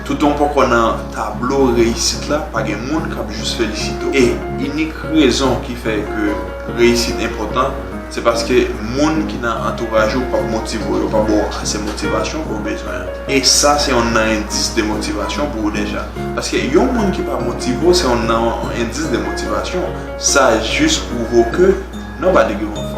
Toutan w poko nan tablo reyisit la, pa gen moun k ap jis felisite w. E inik rezon ki fè ke reyisit enpòtan, se paske moun ki nan antouraj ou p ap motive w, yo pa ba w ase motivasyon ke w bezwen an. E sa se youn nan endis de motivasyon pou ou deja. Paske yon moun ki pa motive w, se youn nan endis de motivasyon. Sa jis pwouve w ke nobody give a fuck.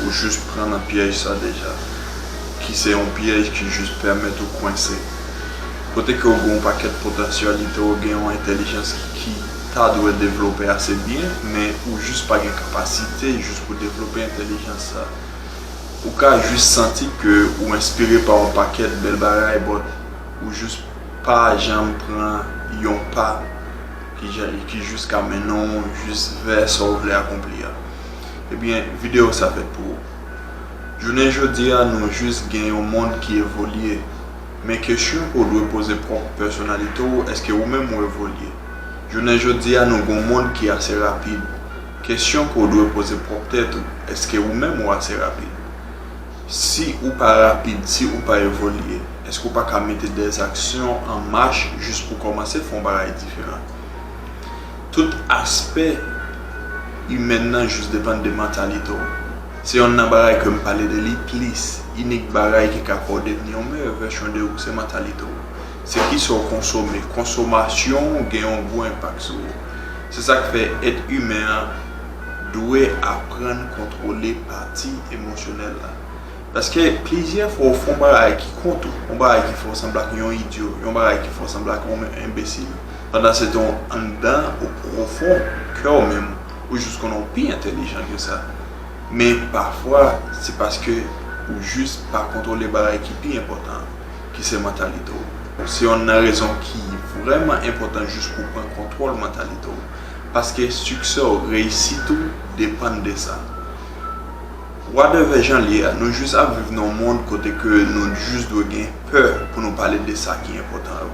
Ou jis pran nan pyèj sa deja, ki se yon pyèj ki jis pèmèt ou kwense. Kote ke ou gen yon pakèt potansyalite, ou gen yon entèlijans ki ta dwe devlope ase byen, men ou jis pa gen kapasite jis pou devlope entèlijans sa. Ou ka jis santi ke ou enspire pa yon pakèt bèl bagay, but ou jis pa janm pran yon pa. ki jous ka mennen w jous vè sa w vle akonpli a ebyen video sa fèt pou ou jounen jodi a nou jous gen yon mond ki evolye men kesyon ke w dwe poze pwòp pèsonalite w eske ou menm ou evolye jounen jodi a nou gen yon mond ki ase rapid kesyon ke w dwe poze pwòp tèt ou eske ou menm ou ase rapid. Si ou pa rapid, si ou pa evolye, èske ou pa ka mete dè aksyon an mach jis pou kòmanse fè yon bagay diferan? Tout aspè imèn nan jis depann de mantalite w. Se yonn nan bagay ke m pale de li plis. Inik bagay ki ka fè w devni yon meyè vèsyon de ou se mantalite w. Se kisa w konsome. Konsomasyon ou gen yon gwo enpak sou ou. Se sa k fè èt imen an. dwe aprann kontwole pati emosyonèl la. Paske plizyè fwa ou fè yon bagay ki kont ou, yon bagay ki fè ou sanble ak yon idyo, yon bagay ki fè ou sanble ak yon enbesil, pandan se te anndan ou pwofon kè ou menm ou jis konnen ou pi entelijan ke sa. Men pafwa se paske ou jis pa kontwole bagay ki pi enpòtan an, ki se mantalite ou. Se yonn nan rezon ki vrèman enpòtan jis pou w pran kontwòl mantalite ou. paske siksè w, reyisit ou depann de sa. Wadèvè jan l ye a, nou jis ap viv nan yon mond kote ke nou jis dwe gen pè pou nou pale de sa ki enpòtan yo.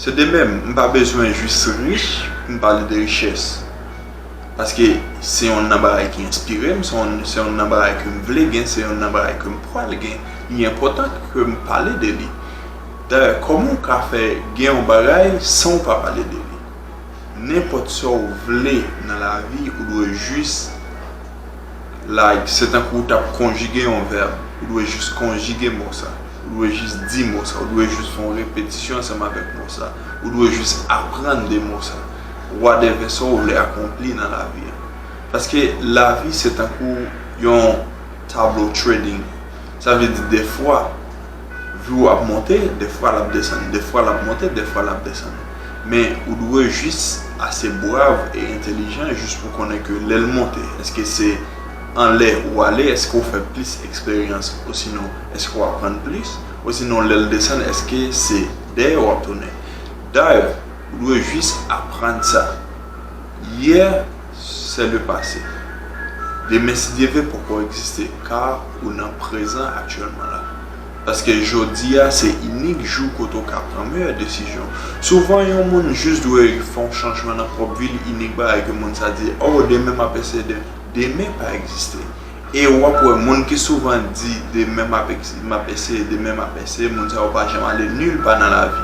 Se de menm, m pa bezwen jis rich pou m pale de richès, paske se yonn nan bagay ki enspire m, se yonn nan bagay ke m vle gen, se yonn nan bagay ke m pral gen, li enpòtan ke m pale de li. Dayè, kòman w ka fè gen yon bagay san w pa pale de li? Nenpòt sa ou vle nan lavi ou dwe jis like se tankou ou tap konjige yon vèb ou dwe jis konjige mo sa ou dwe jis di mo sa ou dwe jis fè yon repetisyon ansanm avèk mo sa ou dwe jis aprann de mo sa wadèvè sa ou vle akonpli nan lavi an paske lavi se tankou yon tablo trading. Sa vle di dèfwa vi w ap monte, dèfwa l ap desann, dèfwa l ap monte, dèfwa l ap desann. Men ou dwe jis ase brav e entelijan jis pou konnen ke lè l monte, èske se anlè ou ale, èske ou fè plis eksperyans osinon èske ou aprann plis, osinon lè l desann èske se dèyè w ap tounen. Dayè, ou dwe jis aprann sa. Yè. Se le pase. Demen si Dye ve poko egziste ka ou nan prezan aktyèlman la. Paske jodi a se inik jou kote ou ka pran meyè desizyon. Souvan yon moun jis dwe fè yon chanjman nan pwòp vi l inik bagay ke moun sa di oh demen m ap eseye de. Demen pa egziste. E w ap wè moun ki souvan di demen m ap m ap eseye demen m ap eseye moun sa yo pa janm ale nil pa nan lavi.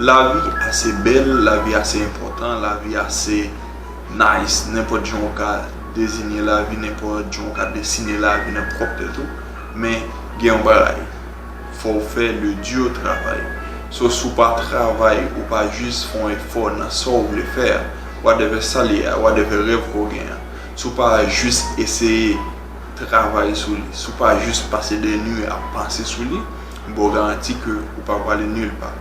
Lavi ase bèl, lavi ase enpòtan, lavi ase Nice, nenpòt jan ou ka dezinye lavi, nenpòt jan ou ka desine lavi nan pwòp tèt ou, men gen yon bagay, fò ou fè le dur travail. So si ou pa travay, ou pa jis fè yon efò nan sa ou vle fè a, whatever sa li ye a, whatever rèv ke w gen an, si ou pa jis eseye travay sou li, si ou pa jis pase des nuits ap panse sou li, m ba w garanti ke ou pa prale nil pa.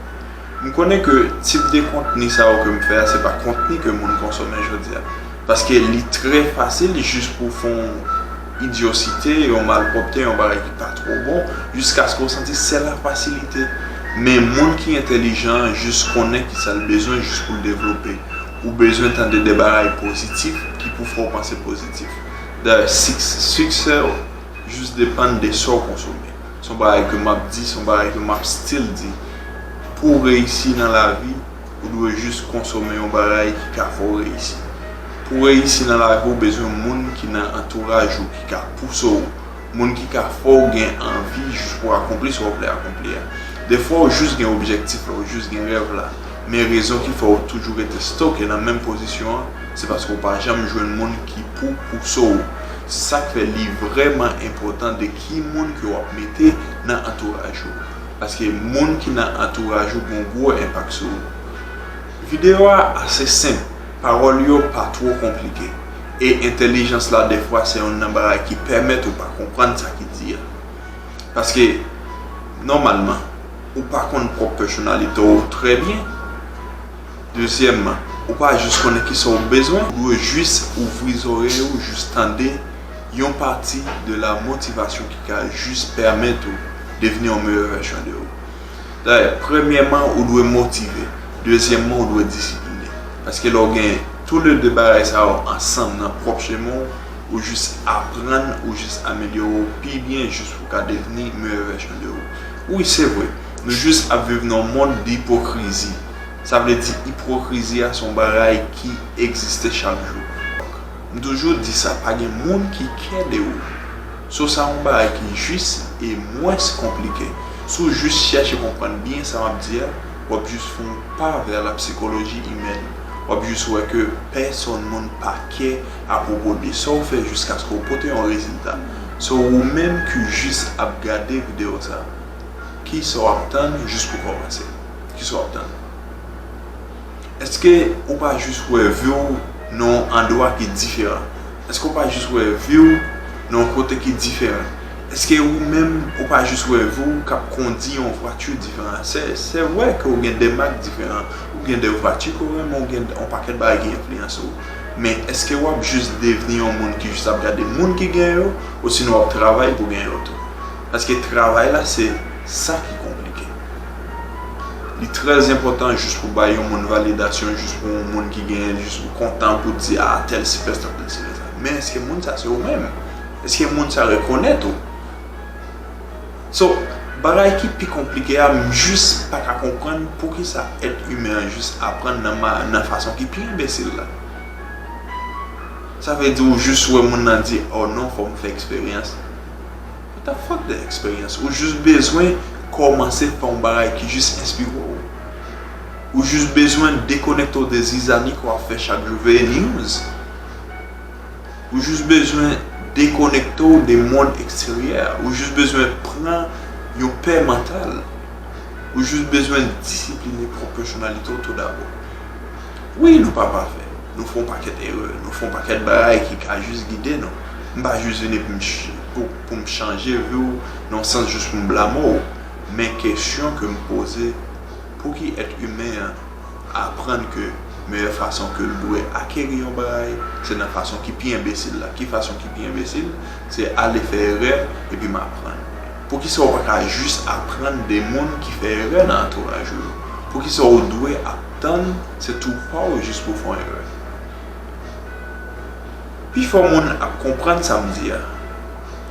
M konnen ke tip de kontni sa yo ke m fè a se pa kontni ke moun konsome jodi a. Paske li trè fasil jis pou w fè yon idyosite, yon malpwòpte, yon bagay ki pa twò bon, jiskaske w santi se la fasilite. Men moun ki entelijan an jis konnen kisa l bezwen jis pou l devlope. Ou bezwen tande de bagay pozitif ki pou fè w panse pozitif. Dayè, siksè w jis depann de sa w konsome. Se yon bagay ke m ap di, se yon bagay ke m ap still di. Pou w reyisi nan lavi, ou dwe jis konsome yon bagay ki ka fè w reyisi. Pou w reyisi nan lavi, ou bezwen moun ki nan antouraj ou ki ka pouse w, moun ki ka fè w gen anvi jis pou w akonpli sa w vle akonpli a. Defwa ou jis gen objektif la, ou jis gen rèv la, men rezon ki fè ou toujou rete stoke nan menm pozisyon an, se paske ou pa janm jwenn moun ki pou pouse w. Se sa k fè li vrèman enpòtan de. ki moun ke wap mete nan antouraj ou paske moun ki nan antouraj ou gon gwo enpak sou ou. Video a ase senp, pawòl yo pa two konplike e entèlijans la defwa se youn nan bagay ki pèmèt ou pa konprann sa ki di a paske nòmalman ou pa konn pwòp pèsonalite w trè byen. Dezyèmman, ou pa jis konnen kisa w bezwen, ou dwe jis ouvri zòrèy ou jis tande. yon pati de la motivasyon ki ka jis pèmèt ou devni yon meyè vèsyon de ou. Dayè, premyèman ou dwe motive, dezyèmman ou dwe disipline. Paske lè ou gen tou le de bagay sa yo ansanm nan pwòp chemen ou, ou jis aprann, ou jis amelyore ou pi byen jis pou ka devni meyè vèsyon de ou. Wi, se vre, nou jis ap viv nan yon mond dipokrizi. Sa vle di ipwokrizi a se yon bagay ki egziste chak jou. M toujou di sa pa gen moun ki kè de ou. So sa yon bagay ki jis e mwens konplike. Si w jis chèche konprann byen sa m ap di a, w ap jis fon pa vè la psychologie humaine. W ap jis wè ke pèsonn moun pa kè apwopo de sa w fè jiskaske w pote yon rezilta. So ou menm ki jis ap gade video sa, kisa w ap tann jis pou kòmanse? Kisa w ap tann? Eske ou pa jis wè vi w nan yon andwa ki diferan? Eske ou pa jis wè vi w nan yon kote ki diferan? Eske ou menm ou pa jis wè vi w k ap kondi yon vwati diferan? Se vre ke ou gen de mak diferan, ou gen de vwati ke w renmen, ou gen yon pakèt bagay ki enfliyanse w, men eske w ap jis devni yon moun ki jis ap gade moun ki gen yo osinon w ap travay pou gen yo tou? Paske travay la se sa ki konplike. Li trè enpòtan jis pou bay yon moun validasyon, jis pou yon moun ki genyen, jis ou kontan pou di a tèl si fè sa, tèl si fè sa. Men eske moun sa se ou menm? Eske moun sa rekonèt ou? So, bagay ki pi konplike a, m jis pa ka konprann poukisa èt imen an jis aprann nan fason ki pi enbesil la. Sa vle di ou jis wè moun nan di, oh non, fò m fè eksperyans. Ou tap fòt de eksperyans. Ou jis bezwen kòmanse fè yon bagay ki jis enspire w. Ou jis bezwen dekonekte w de zizani ke w ap fè chak jou, veye news. Ou jis bezwen dekonekte w de mond eksteryè a. Ou jis bezwen pran yon pè mantal. Ou jis bezwen disipline pwòp pèsonalite w tou dabò. Wi, nou pa pafè. Nou fè yon pakèt erè, nou fè yon pakèt bagay ki ka jis gide nou. M pa jis vini pou m chanje vi w nan yon sans jis pou m blame w. Men kesyon ke m poze, pouki èt imen an aprann ke meyè fason ke l dwe akeri yon bagay, se nan fason ki pi enbesil la? Ki fason ki pi enbesil? Se ale fè erè epi m aprann. Poukisa ou pa ka jis aprann de moun ki fè erè nan antouraj ou yo? Poukisa ou dwe. Tann se tou paw jis pou fon erè. Pi fò moun ap konprann sam di a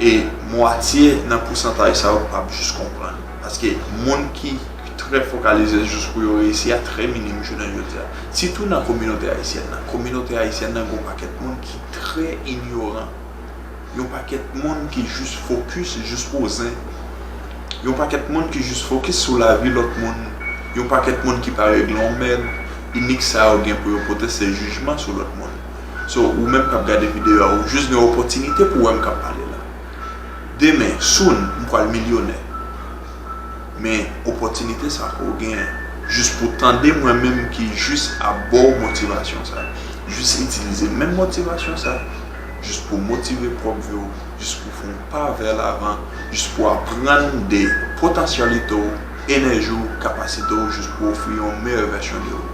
e mwatye nan pousantaj sa yo pap jis konprann paske moun ki trè fokalize jis pou yo reyisi a trè minim jounen jodi a sitou nan kominote ayisyèn nan kominote ayisyèn nan gon pakèt moun ki trè inyoran. Yon pakèt moun ki jis fokis, jis pou zen. Yon pakèt moun ki jis fokis sou lavi lòt moun. Yon pakèt moun ki pa regle yon mèd. Inik sa yo gen pou yo pote se jijman sou lòt moun. So, ou menm k ap gade videyo a, ou jis gen opòtinite pou wè m k ap pale la. Demen, soon, m pral milyonè. Men, opòtinite sa a ke w gen an, jis pou w tande mwen menm ki jis ap ba w motivasyon sa a, jis itilize menm motivasyon sa a. jis pou w motive pwòp vi w, jis pou w fè yon pa vè lavan, jis pou w aprann de potansyalite w, enèji w, kapasite w, jis pou w ofri yon meyè vèsyon de ou.